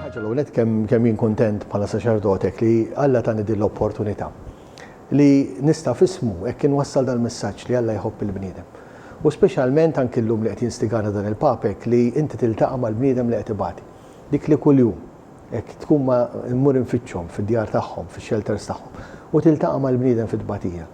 Ħaġa l-ewwel nett kemm kemm jien kuntent bħala saċerdot hekk li Alla tani din l-opportunità li nista' f'ismu hekk inwassal dal-messaġġ li Alla jħobb il-bniedem. U speċjalment anki llum li qed jinstigana dan il-Papa hekk li inti tiltaqa' mal-bniedem li qed ibati. Dik li kuljum Hekk tkun ma mmur infittxhom fid-djar tagħhom, fix-xelters tagħhom, u tiltaqa' mal-bniedem fit-tbatija.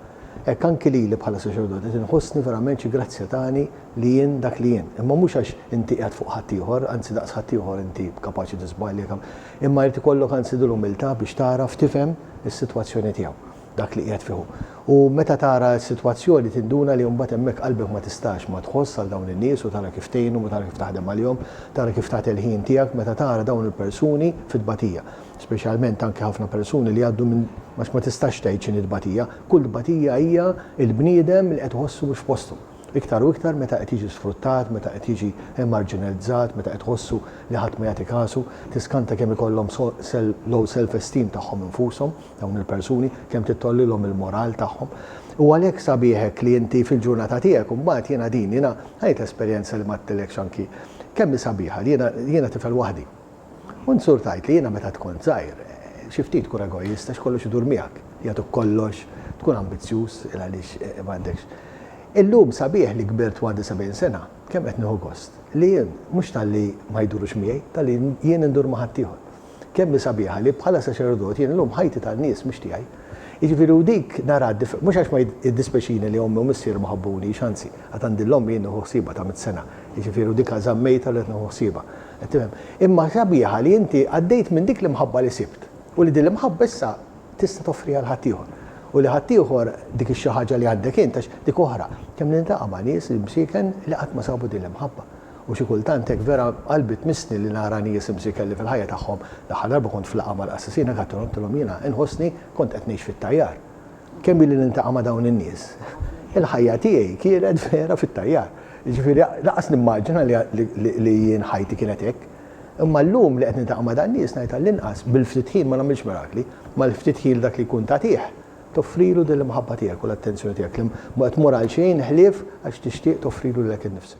Hekk anki lili bħala saċerdot qed inħossni verament xi grazzja tani li jien dak li jien. Imma mhux għax inti qiegħed fuq ħaddieħor, anzi daqs ħaddieħor inti kapaċi tiżbalja, imma jrid ikollok anzi dil-umiltà biex tagħraf tifhem is-sitwazzjoni tiegħu. dak li qiegħed fih hu. U meta tara s-sitwazzjoni tinduna li mbagħad hemmhekk qalbek ma tistax ma tħoss għal dawn in-nies u tara kif tgħinhom u tara kif taħdem għalihom, tara kif tagħti l-ħin tiegħek meta tara dawn il-persuni fi tbatija. Speċjalment anke ħafna persuni li jgħaddu minn għax ma tistax tgħid x'inhi tbatija, kull tbatija hija l-bniedem li qed iħossu mhux f'postu. Iktar u iktar meta qed jiġi sfruttat, meta qed jiġi emarġinalizzat, meta qed iħossu li ħadd ma jagħti kasu, tiskanta kemm ikollhom low self-esteem tagħhom infushom. dawn il-persuni, kemm tittollilhom il-moral tagħhom. U għalhekk sabiħ hekk li inti fil-ġurnata tiegħek imbagħad jiena din jiena għajt esperjenza li ma għedtilekx anki kemm hi sabiħa li jiena jiena tifel waħdi. U nsur tajt li jiena meta tkun żgħir xi ftit tkun egoist għax kollox idur miegħek, jagħtuk kollox, tkun ambizzjuż il għaliex eh, eh, m'għandekx. Illum sabiħ li kbirt għandi 70 sena, kemm qed nieħu gost li jien mhux talli ma jdurux miegħi, talli jien indur ma' ħaddieħor. Kemm hi sabiħa li bħala saċerdot jien illum ħajti tan-nies mhux tiegħi. Jiġifieri u dik naraha differ-, mhux għax ma jiddispjaċini li ommi u missier ma ħabbunix, anzi, għad għandi l-ommi jien nieħu ħsiebha ta' mitt sena, jiġifieri u dikha żammejtha u qed nieħu ħsiebha. Qed tifhem? Imma sabiħa li inti għaddejt minn dik l-imħabba li sibt u li din l-imħabba issa tista' toffriha 'l ħaddieħor. U li ħaddieħor dik ix-xi ħaġa li għandek int għax dik oħra. Kemm niltaqa' ma' nies imsieken li qatt ma sabu din l-imħabba. U xi kultant hekk vera qalbi tmissni li nara nies imsiken li fil-ħajja tagħhom, l-aħħar darba kont f'laqgħa mal-qassisin hekk għidtilhom, għidtilhom jiena inħossni kont qed ngħix fit-tajjar. Kemm ili niltaqa' ma' dawn in-nies. Il-ħajja tiegħi kienet vera fit-tajjar. Jiġifieri lanqas nimmaġina li jien ħajti kienet hekk. Imma llum li qed niltaqa' ma' dan-nies ngħid għall-inqas bil-ftit ħin ma nagħmilx mirakli, mal-ftit ħin dak li jkun tagħtih toffrilu din l-imħabba tiegħek u l-attenzjoni tiegħek li ma tmur għal xejn ħlief għax tixtieq toffrilu lilek innifsek.